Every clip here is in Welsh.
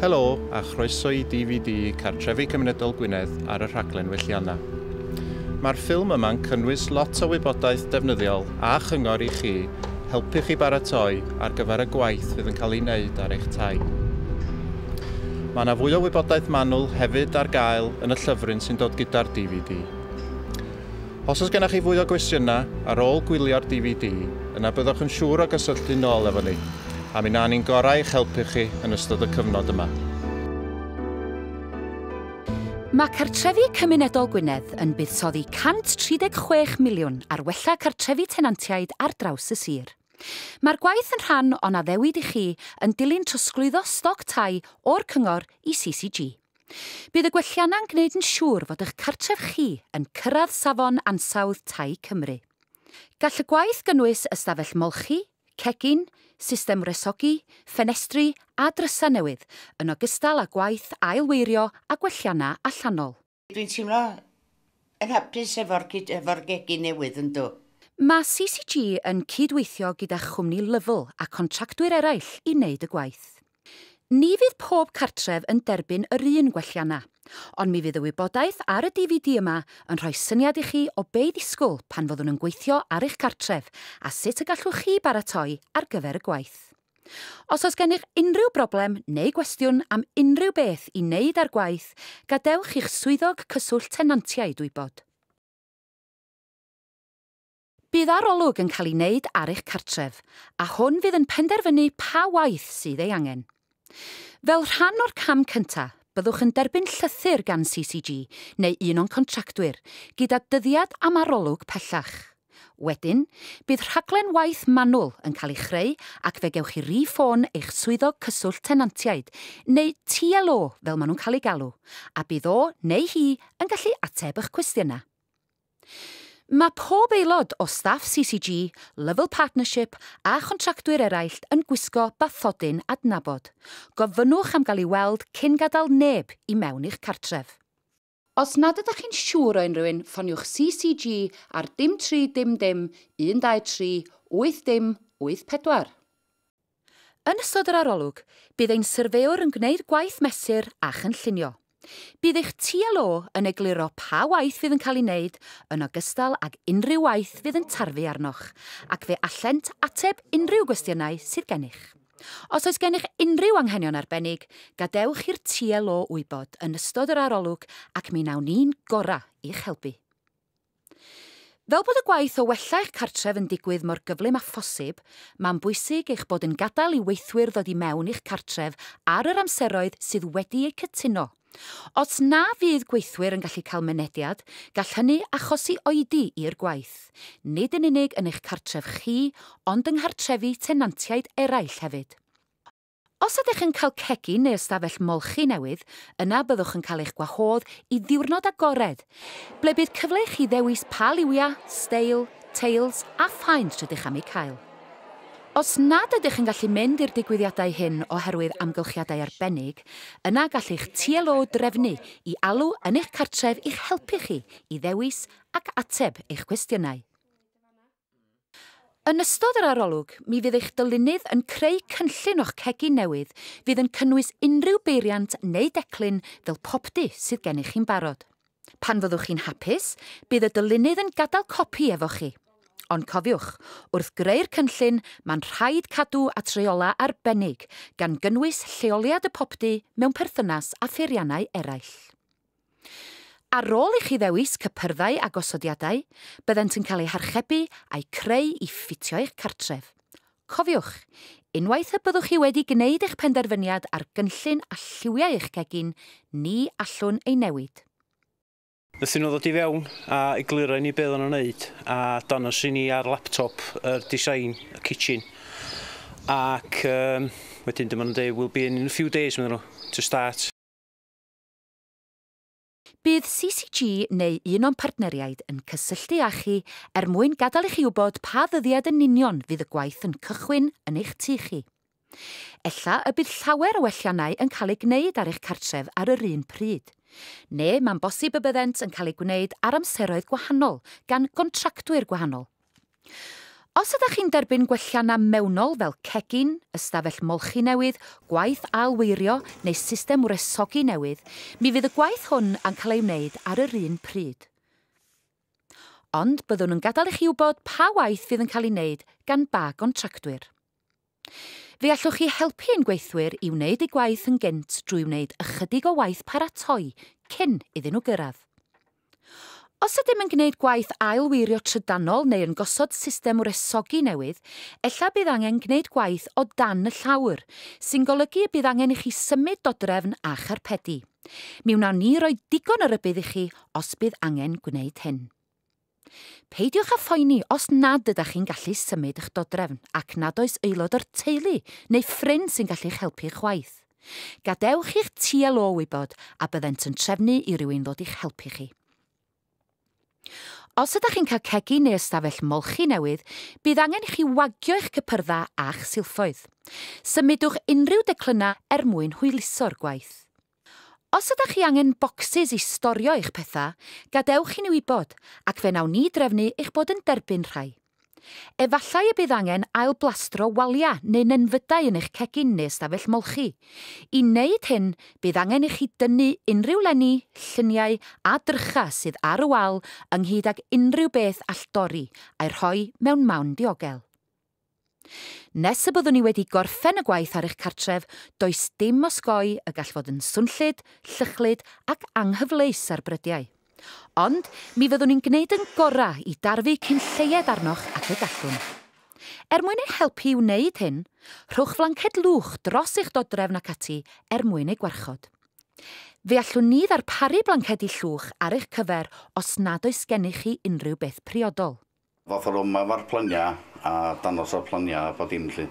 Helo a chroeso i DVD Cartrefi Cymunedol Gwynedd ar y rhaglen Welliannau. Mae'r ffilm yma'n cynnwys lot o wybodaeth defnyddiol a chyngor i chi helpu chi baratoi ar gyfer y gwaith fydd yn cael ei wneud ar eich tai. Mae yna fwy o wybodaeth manwl hefyd ar gael yn y llyfryn sy'n dod gyda'r DVD. Os oes gennych chi fwy o gwestiynau ar ôl gwylio'r DVD, yna byddwch yn siŵr o gysylltu nôl efo ni, a mi wnawn ni'n gorau i'ch helpu chi yn ystod y cyfnod yma. Mae Cartrefi Cymunedol Gwynedd yn buddsoddi 136 miliwn ar wella cartrefi tenantiaid ar draws y sir. Mae'r gwaith yn rhan o'n addewid i chi yn dilyn trosglwyddo stoc tai o'r Cyngor i CCG. Bydd y gwelliannau'n gwneud yn siŵr fod eich cartref chi yn cyrraedd Safon Ansawdd Tai Cymru. Gall y gwaith gynnwys ystafell molchi, cegin, system wresogi, ffenestri a drysau newydd, yn ogystal â gwaith ail-weirio a gwelliannau allanol. Dwi'n teimlo yn hapus efo'r cyd- efo'r gegin newydd, yndw. Mae CCG yn cyd-weithio gyda chwmni Lovell a contractwyr eraill i wneud y gwaith. Ni fydd pob cartref yn derbyn yr un gwelliannau, ond mi fydd y wybodaeth ar y DVD yma yn rhoi syniad i chi o be i ddisgwyl pan fyddwn yn gweithio ar eich cartref a sut y gallwch chi baratoi ar gyfer y gwaith. Os oes gennych unrhyw broblem neu gwestiwn am unrhyw beth i wneud â'r gwaith, gadewch i'ch Swyddog Cyswllt Tenantiaid wybod. Bydd arolwg yn cael ei wneud ar eich cartref, a hwn fydd yn penderfynu pa waith sydd ei angen. Fel rhan o'r cam cyntaf, byddwch yn derbyn llythyr gan CCG neu un o'n contractwyr gyda dyddiad am arolwg pellach. Wedyn, bydd rhaglen waith manwl yn cael ei chreu ac fe gewch chi rî-ffôn eich Swyddog Cyswllt Tenantiaid, neu TLO fel maen nhw'n cael eu galw, a bydd o neu hi yn gallu ateb eich cwestiynau. Mae pob aelod o staff CCG, Lovell Partnership a chontractwyr eraill yn gwisgo bathodyn adnabod. Gofynnwch am gael ei weld cyn gadael neb i mewn i'ch cartref. Os nad ydych chi'n siŵr o unrhyw un, ffoniwch CCG ar dim tri dim dim 123 8 dim 8 pedwar. Yn ystod yr arolwg, bydd ein syrfeowr yn gwneud gwaith mesur a chynllunio. Bydd eich TLO yn egluro pa waith fydd yn cael ei wneud yn ogystal ag unrhyw waith fydd yn tarfu arnoch, ac fe allent ateb unrhyw gwestiynau sydd gennych. Os oes gennych unrhyw anghenion arbennig, gadewch i'r TLO wybod yn ystod yr arolwg ac mi wnawn ni'n gorau i'ch helpu. Fel bod y gwaith o wella eich cartref yn digwydd mor gyflym â phosib, mae'n bwysig eich bod yn gadael i weithwyr ddod i mewn i'ch cartref ar yr amseroedd sydd wedi eu cytuno. Os na fydd gweithwyr yn gallu cael mynediad, gall hynny achosi oedi i'r gwaith, nid yn unig yn eich cartref chi, ond yng nghartrefi tenantiaid eraill hefyd. Os ydych yn cael cegin neu ystafell molchi newydd, yna byddwch yn cael eich gwahodd i ddiwrnod agored, ble bydd cyfle i chi ddewis pa liwiau, steil, teils a phaent rydych am eu cael. Os nad ydych yn gallu mynd i'r digwyddiadau hyn oherwydd amgylchiadau arbennig, yna gall eich TLO drefnu i alw yn eich cartref i'ch helpu chi i ddewis ac ateb eich cwestiynau. Yn ystod yr arolwg, mi fydd eich dylunydd yn creu cynllun o'ch cegin newydd fydd yn cynnwys unrhyw beiriant neu declyn fel popty sydd gennych chi'n barod. Pan fyddwch chi'n hapus, bydd y dylunydd yn gadael copi efo chi. Ond cofiwch, wrth greu'r cynllun, mae'n rhaid cadw at reolau arbennig, gan gynnwys lleoliad y popty mewn perthynas â pheiriannau eraill. Ar ôl i chi ddewis cypyrddau a gosodiadau, byddent yn cael eu harchebu a'u creu i ffitio eich cartref. Cofiwch, unwaith y byddwch chi wedi gwneud eich penderfyniad ar gynllun a lliwiau eich cegin, ni allwn ei newid. Wnaethon nhw ddod i fewn a egluro i ni be' oeddan nhw'n neud a dangos i ni ar laptop yr design y kitchen ac yym wedyn dyma nhw'n deud we'll be in in a few days medden nhw to start. Bydd CCG neu un o'n partneriaid yn cysylltu â chi er mwyn gadael i chi wybod pa ddyddiad yn union fydd y gwaith yn cychwyn yn eich tŷ chi. Ella y bydd llawer o welliannau yn cael eu gwneud ar eich cartref ar yr un pryd. Neu mae'n bosib y byddent yn cael eu gwneud ar amseroedd gwahanol gan gontractwyr gwahanol. Os ydych chi'n derbyn gwelliannau mewnol fel cegin, ystafell molchi newydd, gwaith ail-weirio neu system wresogi newydd, mi fydd y gwaith hwn yn cael ei wneud ar yr un pryd. Ond byddwn yn gadael i chi wybod pa waith fydd yn cael ei wneud gan ba gontractwyr. Fe allwch chi helpu ein gweithwyr i wneud eu gwaith yn gynt drwy wneud ychydig o waith paratoi cyn iddyn nhw gyrraedd. Os ydym yn gwneud gwaith ail-weirio trydanol neu yn gosod system wresogi newydd, ella bydd angen gwneud gwaith o dan y llawr, sy'n golygu y bydd angen i chi symud dodrefn a charpedi. Mi wnawn ni roi digon o rybudd i chi os bydd angen gwneud hyn. Peidiwch â phoeni os nad ydych chi'n gallu symud eich dodrefn ac nad oes aelod o'r teulu neu ffrind sy'n gallu eich helpu chwaith. Gadewch i'ch TLO wybod a byddent yn trefnu i rywun ddod i'ch helpu chi. Os ydych chi'n cael cegin neu ystafell molchi newydd, bydd angen i chi wagio eich cypyrddau a'ch silffoedd. Symudwch unrhyw declynnau er mwyn hwyluso'r gwaith. Os ydach chi angen bocsys i storio eich pethau, gadewch i ni wybod ac fe wnawn ni drefnu eich bod yn derbyn rhai. Efallai y bydd angen ailblastro waliau neu nenfydau yn eich cegin neu ystafell molchi. I wneud hyn, bydd angen i chi dynnu unrhyw lenni, lluniau a drychau sydd ar y wal ynghyd ag unrhyw beth all dorri, a'i rhoi mewn mawn diogel. Nes y byddwn i wedi gorffen y gwaith ar eich cartref, does dim osgoi y gall fod yn swnllyd, llychlyd ac anghyfleus ar brydiau. Ond, mi fyddwn i'n gwneud yn gorau i darfu cyn lleied arnoch ag y gallwn. Er mwyn eich helpu i wneud hyn, rhowch flanced lwch dros eich dodrefn ac ati er mwyn ei gwarchod. Fe allwn ni ddarparu blancedi llwch ar eich cyfer os nad oes gennych chi unrhyw beth priodol. Ddoth yr yma efo'r plynia a dangos y plynia a phob dim 'lly.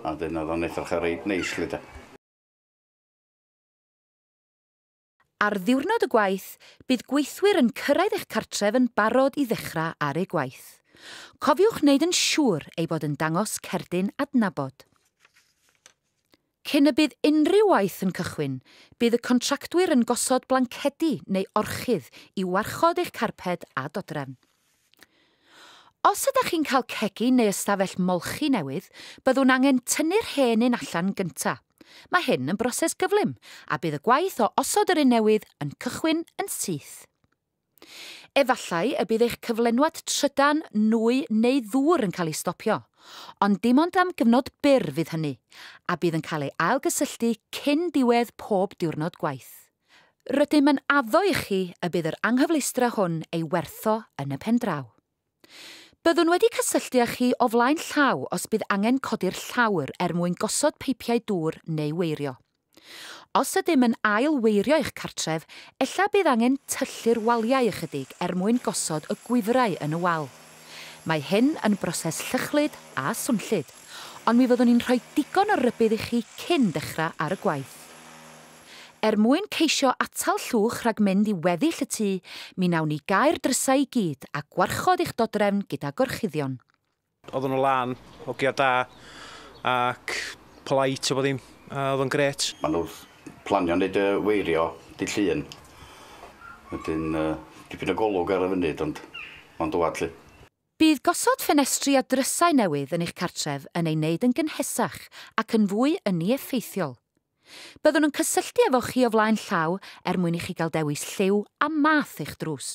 A 'dyn o'dd o'n edrach reit neis 'lly 'de. Ar ddiwrnod y gwaith, bydd gweithwyr yn cyrraedd eich cartref yn barod i ddechra ar eu gwaith. Cofiwch wneud yn siŵr ei bod yn dangos cerdyn adnabod. Cyn y bydd unrhyw waith yn cychwyn, bydd y contractwyr yn gosod blancedi neu orchudd i warchod eich carped a dodrefn. Os ydych chi'n cael cegin neu ystafell molchi newydd, byddwn angen tynnu'r hen un allan gynta'. Mae hyn yn broses gyflym, a bydd y gwaith o osod yr un newydd yn cychwyn yn syth. Efallai y bydd eich cyflenwad trydan, nwy neu ddŵr yn cael ei stopio, ond dim ond am gyfnod byr fydd hynny, a bydd yn cael ei ailgysylltu cyn diwedd pob diwrnod gwaith. Rydym yn addo i chi y bydd yr anghyfleustra hwn ei wertho yn y pen draw. Byddwn wedi cysylltu â chi o flaen llaw os bydd angen codi'r llawr er mwyn gosod peipiau dŵr neu weirio. Os ydym yn ail weirio eich cartref, ella bydd angen tyllu'r waliau ychydig er mwyn gosod y gwifrau yn y wal. Mae hyn yn broses llychlyd a swnllyd, ond mi fyddwn ni'n rhoi digon o rybudd i chi cyn dechrau ar y gwaith. Llwchyd. Er mwyn ceisio atal Llwch rhag mynd i weddill y tŷ, mi wnawn ni gau'r drysau i gyd a gwarchod eich dodrefn gyda gorchuddion. Oedden nhw lan, hogia da ac polite a bob ddim, a oedd o'n grêt. Maen nhw planio wneud y weirio dydd Llun, wedyn dipyn o golwg ar y funud ond mae'n dŵad 'lly. Bydd gosod ffenestri a drysau newydd yn eich cartref yn ei wneud yn gynhesach ac yn fwy ynni effeithiol. Byddwn yn cysylltu efo chi o flaen llaw er mwyn i chi gael dewis lliw a math eich drws.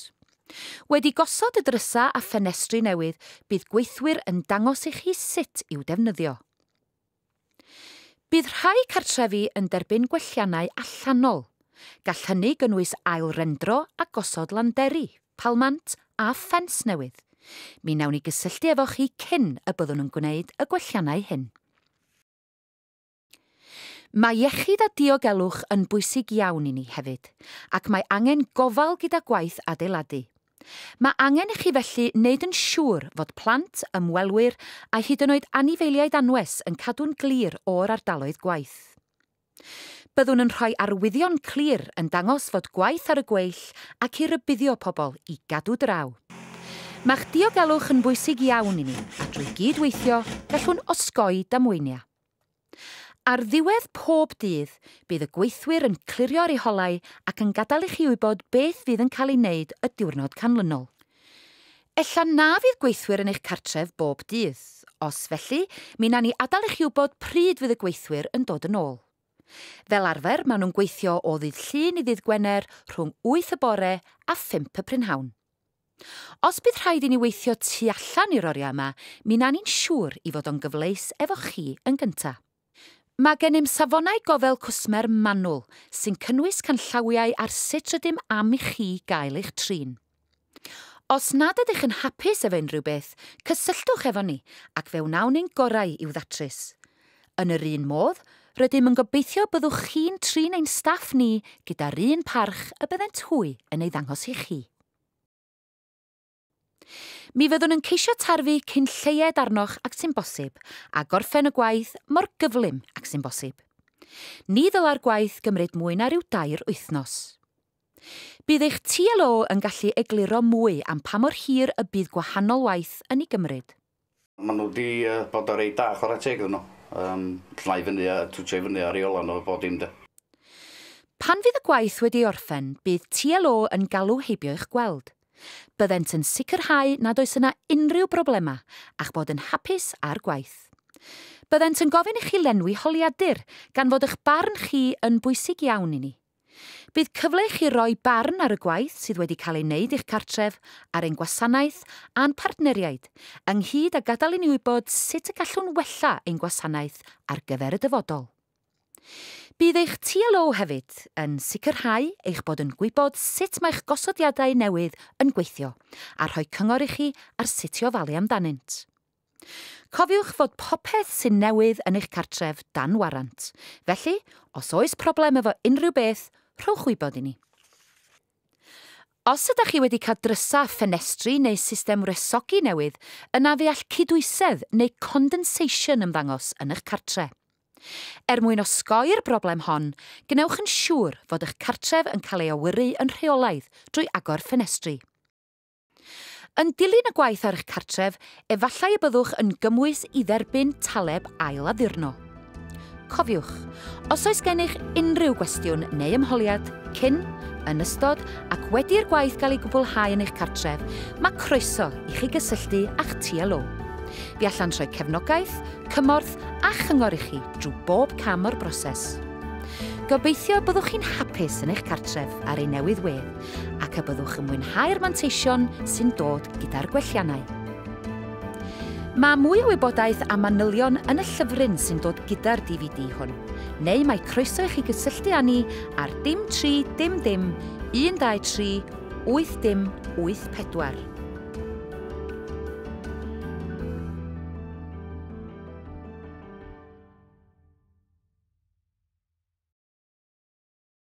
Wedi gosod y drysau a ffenestri newydd, bydd gweithwyr yn dangos i chi sut i'w defnyddio. Bydd rhai cartrefi yn derbyn gwelliannau allanol. Gall hynny gynnwys ail-rendro a gosod landeri, palmant a ffens newydd. Mi wnawn ni gysylltu efo chi cyn y byddwn yn gwneud y gwelliannau hyn. Mae iechyd a diogelwch yn bwysig iawn i ni hefyd, ac mae angen gofal gyda gwaith adeiladu. Mae angen i chi felly wneud yn siŵr fod plant, ymwelwyr a hyd yn oed anifeiliaid anwes yn cadw'n glir o'r ardaloedd gwaith. Byddwn yn rhoi arwyddion clir yn dangos fod gwaith ar y gweill ac i rybuddio pobl i gadw draw. Mae'ch diogelwch yn bwysig iawn i ni a drwy gyd-weithio gallwn osgoi damweiniau. Ar ddiwedd pob dydd, bydd y gweithwyr yn clirio'r iholau ac yn gadael i chi wybod beth fydd yn cael ei wneud y diwrnod canlynol. Ella na fydd gweithwyr yn eich cartref bob dydd. Os felly, mi wnawn ni adael i chi wybod pryd fydd y gweithwyr yn dod yn ôl. Fel arfer, maen nhw'n gweithio o ddydd Llun i ddydd Gwener rhwng wyth y bore a phump y prynhawn. Os bydd rhaid i ni weithio tu allan i'r oriau yma, mi na ni'n siŵr i fod o'n gyfleus efo chi yn gynta'. Mae gennym safonau gofal cwsmer manwl, sy'n cynnwys canllawiau ar sut rydym am i chi gael eich trin. Os nad ydych yn hapus efo unrhyw beth, cysylltwch efo ni ac fe wnawn ein gorau i'w ddatrys. Yn yr un modd, rydym yn gobeithio byddwch chi'n trin ein staff ni gyda'r un parch y byddent hwy yn ei ddangos i chi. Mi fyddwn yn ceisio tarfu cyn lleied arnoch ag sy'n bosib a gorffen y gwaith mor gyflym ag sy'n bosib. Ni ddylai'r gwaith gymryd mwy na rhyw dair wythnos. Bydd eich TLO yn gallu egluro mwy am pa mor hir y bydd gwahanol waith yn ei gymryd. Maen nhw wedi bod yn reit da, chwarae teg iddyn nhw. Um, llnau i fyny a twtio i fyny ar ei ola nhw a bod dim de. Pan fydd y gwaith wedi ei orffen, bydd TLO yn galw heibio i'ch gweld. Byddent yn sicrhau nad oes yna unrhyw broblemau a'ch bod yn hapus â'r gwaith. Byddent yn gofyn i chi lenwi holiadur, gan fod eich barn chi yn bwysig iawn i ni. Bydd cyfle i chi roi barn ar y gwaith sydd wedi cael ei wneud i'ch cartref, ar ein gwasanaeth a'n partneriaid, ynghyd â gadael i ni wybod sut y gallwn wella ein gwasanaeth ar gyfer y dyfodol. Bydd eich TLO hefyd yn sicrhau eich bod yn gwybod sut mae'ch gosodiadau newydd yn gweithio a rhoi cyngor i chi ar sut i ofalu amdanynt. Cofiwch fod popeth sy'n newydd yn eich cartref dan warant, felly os oes problem efo unrhyw beth, rhowch wybod i ni. Os ydych chi wedi cael drysau ffenestri neu system wresogi newydd, yna fe all cydwysedd neu condensation ymddangos yn eich cartre. Er mwyn osgoi'r broblem hon, gwnewch yn siŵr fod eich cartref yn cael ei awyru yn rheolaidd drwy agor ffenestri. Yn dilyn y gwaith ar eich cartref, efallai y byddwch yn gymwys i dderbyn taleb ail addurno. Cofiwch, os oes gennych unrhyw gwestiwn neu ymholiad cyn, yn ystod ac wedi'r gwaith gael ei gwblhau yn eich cartref, mae croeso i chi gysylltu â'ch TLO. Bu allan rhoi cefnogaeth, cymorth a chyngor i chi drwy bob cam o'r broses. Gobeithio byddwch chi'n hapus yn eich cartref ar ei newydd wedd ac y byddwch yn mwynhau'r manteision sy'n dod gyda'r gwelliannau. Mae mwy o wybodaeth am manylion yn y llyfryn sy'n dod gyda'r DVD hwn, neu mae croeso i chi gysylltu â ni ar dim 3 dim dim 123 8 dim 84.